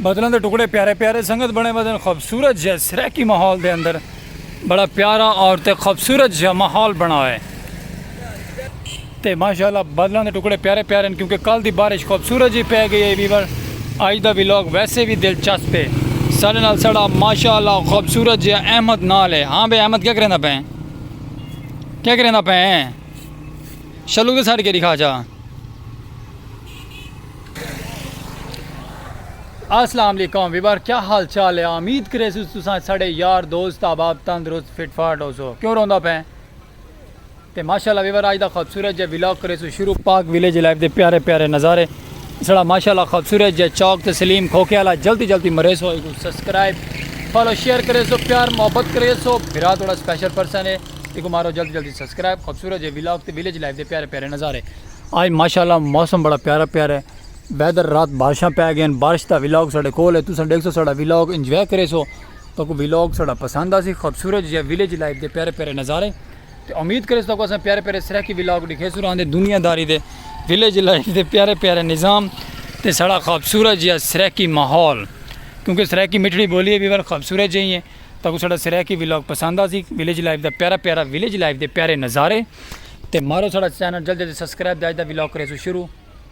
بدلوں دے ٹکڑے پیارے پیارے سنگت بنے بدن خوبصورت جہ سریکی ماحول دے اندر بڑا پیارا اور تے خوبصورت جہ ماحول بنا ہے تے ماشاء اللہ بدلاں دے ٹکڑے پیارے پیارے ہن کیونکہ کل دی بارش خوبصورت جی پے گئی ہے ویور اج دا ویلاگ ویسے بھی دلچسپ ہے ساڑے نال ساڑا ماشاء اللہ خوبصورت جی احمد نال ہے ہاں بے احمد کیا کریندا پے کیا کریندا پے شلو دے ساڑ کے دکھا جا السلام علیکم ویور کیا حال چال ہے امید کرے سو تساں ساڑے یار دوست احباب تندرست فٹ فاٹ ہو سو کیوں روندا پے تے ماشاءاللہ ویور آج دا خوبصورت جے ولاگ کریسو شروع پاک ویلیج لائف دے پیارے پیارے نظارے اسڑا ماشاءاللہ خوبصورت جے چوک تسلیم کھوکھے والا جلدی جلدی مریسو ایکو سبسکرائب فالو شیئر کریسو پیار محبت کریسو بھرا توڑا سپیشل پرسن ہے ایکو مارو جلدی جلدی سبسکرائب خوبصورت جے ولاگ تے ویلیج لائف دے پیارے پیارے نظارے آج ماشاءاللہ موسم بڑا پیارا پیارا ہے ویدر رات بارشاں پہ گئے ہیں بارش دا ولاگ ساڑے کول ہے تساں دیکھ سو ساڑا ولاگ انجوائے کریسو تہاکوں ویلاگ ساڈا پسند آسی خوبصورت جیہے ویلیج لائف دے پیارے پیارے نظارے تے امید کریس تہاکوں اساں پیارے پیارے سرائیکی ویلاگ ڈکھیسوں راں دے دنیا داری دے ویلیج لائف دے پیارے پیارے نظام تے ساڈا خوبصورت جیہا سرائیکی ماحول کیونکہ سرائیکی مٹھڑی بولی ہے ویور خوبصورت جیہی ہے تہاکوں ساڈا سرائیکی ویلاگ پسند آسی ویلیج لائف دا پیارا پیارا ویلیج لائف دے پیارے نظارے تے مارو ساڈا چینل جلدی جلدی سبسکرائب تے اج دا ویلاگ کریسوں شروع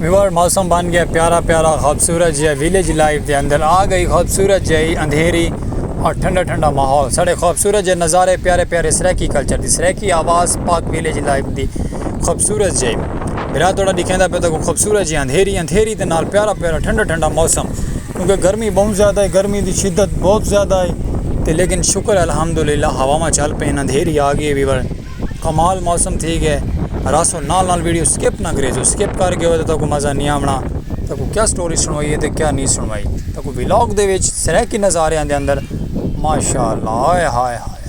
ویور موسم بن گیا پیارا پیارا خوبصورت جہاں ویلیج لائف دے اندر آ گئی خوبصورت جہی اندھیری اور ٹھنڈا ٹھنڈا ماحول ساڑے خوبصورت جہاں نظارے پیارے پیارے سریکی کلچر دی سریکی آواز پاک ویلیج لائف دی خوبصورت جہی برا توڑا دکھیں دا پہ تو خوبصورت جہاں اندھیری اندھیری دے نال پیارا پیارا ٹھنڈا ٹھنڈا موسم کیونکہ گرمی بہوں زیادہ ہے گرمی دی شدت بہت زیادہ ہے تے لیکن شکر ہے الحمدللہ ہواواں چل پئین اندھیری آ گئی ہے کمال موسم تھی گیا ہے راسو نال نال ویڈیو سکپ نہ کرے جو سکپ کر گئے ہو تو تاکو مزہ نہیں آونا تاکو کیا سٹوری سنوائی ہے تے کیا نہیں سنوائی تاکو ولاگ دے وچ سرائیکی نظارے آندے اندر ماشاء اللہ ہائے ہائے ہائے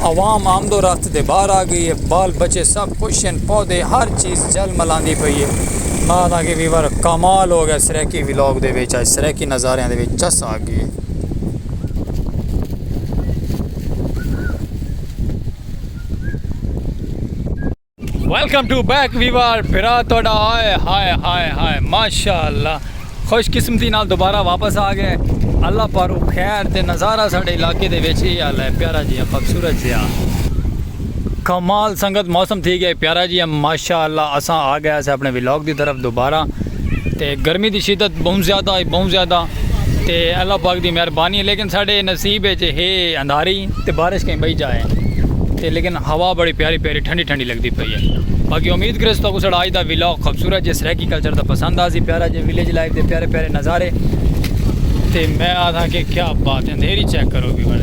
عوام آمد و رفت دے باہر آ گئی ہے، بال بچے سب خوش ہن، پودے ہر چیز جھل ملاندی پئی ہے۔ ماں دا گی ویور کمال ہو گیا سرائیکی ولاگ دے وچ اج سرائیکی نظاریاں دے وچ چس آ گئی ہے۔ ویلکم ٹو بیک ویوار بھرا تہاڈا آئے ہائے ہائے ہائے ماشاءاللہ خوش قسمتی نال دوبارہ واپس آ گئے اللہ پارو خیر تے نظارہ ساڈے علاقے دے وچ یہ حال ہے پیارا جی خوبصورت جیا کمال سنگت موسم تھی گیا پیارا جی ماشاءاللہ اساں آ گئے اسے اپنے ولاگ دی طرف دوبارہ تے گرمی دی شدت بہوں زیادہ ہی بہوں زیادہ تے اللہ پاک دی مہربانی ہے لیکن ساڈے نصیب اچ ہے اندھاری تے بارش کہیں بئی جائے تے لیکن ہوا بڑی پیاری پیاری ٹھنڈی ٹھنڈی لگدی پئی ہے باقی امید کرے تو ساڈا اج دا ویلاگ خوبصورت جے سرائیکی کلچر دا پسند آسی پیارا جے ویلیج لائف دے پیارے پیارے نظارے تے میں آدھا کہ کیا بات ہے اندھیری چیک کرو بھی بڑے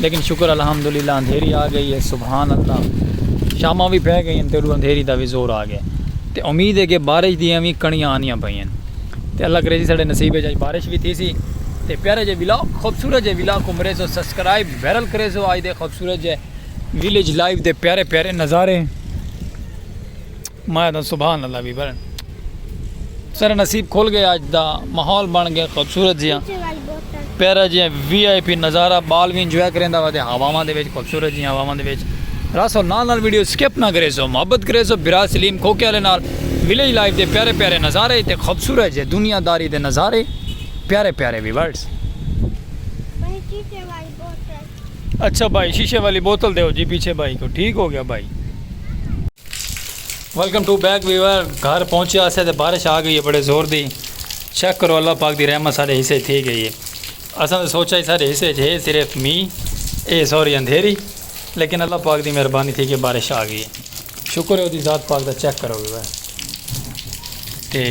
لیکن شکر الحمدللہ اندھیری آ گئی ہے سبحان اللہ شاماں وی پے گئین تے اندھیری دا وی زور آ گئے تے امید ہے کہ بارش دیاں وی کنڑیاں آنیاں پئین تے اللہ کرے جی ساڈے نصیب اچ اج بارش وی تھیسی تے پیارے جے ولاگ خوبصورت جے ولاگ کو مریزو سبسکرائب ویرل کریزو آج دے خوبصورت جے ویلیج لائف دے پیارے پیارے نظارے میں آدھاں سبحان اللہ وی بھرن سارا نصیب کھل گئے اج دا ماحول بن گئے خوبصورت جیاں پیارا جیاں وی آئی پی نظارہ بال وی انجوائے کریں دا ودے ہواواں دے وچ خوبصورت جیاں ہواواں دے وچ راسو نال نال ویڈیو سکپ نہ کرے سو محبت کرے سو برا سلیم کھوکے والے نال ویلیج لائف دے پیارے پیارے نظارے تے خوبصورت جے دنیا داری دے نظارے پیارے پیارے ویورز اچھا بھائی شیشے والی بوتل دیو جی پیچھے بھائی کو ٹھیک ہو گیا بھائی۔ ویلکم ٹو بیک ویور گھر پہنچے آسے تے بارش آ گئی ہے بڑے زور دی چیک کرو اللہ پاک دی رحمت سارے حصے تھی گئی ہے اساں تے سوچا ہی سارے حصے ہے صرف می اے سوری اندھیری لیکن اللہ پاک دی مہربانی تھی کہ بارش آ گئی شکر ہے دی ذات پاک دا چیک کرو ویور تے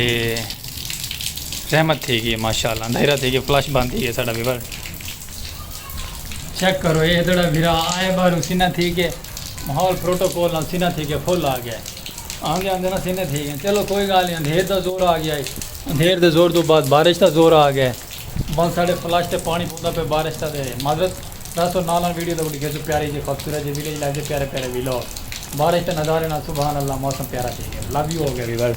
رحمت تھی گئی ماشاءاللہ اندھیرا تھی گئی فلش بند تھی گئی سارا ویور چیک کرو اے دڑا بھرا آئے بارو سینہ تھی گئے ماحول پروٹوکول نال سینہ تھی گئے فل آ گیا ہے آندے آندے نا سینہ تھی گئے چلو کوئی گال نہیں اندھیر دا زور آ گیا ہے اندھیر دے زور دو بعد بارش دا زور آ گیا ہے بند ساڑے فلاش تے پانی پوندا پہ بارش تا دے معذرت دس اور نالان ویڈیو دا بڑی گھر پیاری جی خوبصورت جی ویلیج لائف دے پیارے پیارے ویلو بارش تے نظارے نال سبحان اللہ موسم پیارا تھی گیا لو یو ہو گیا ویورز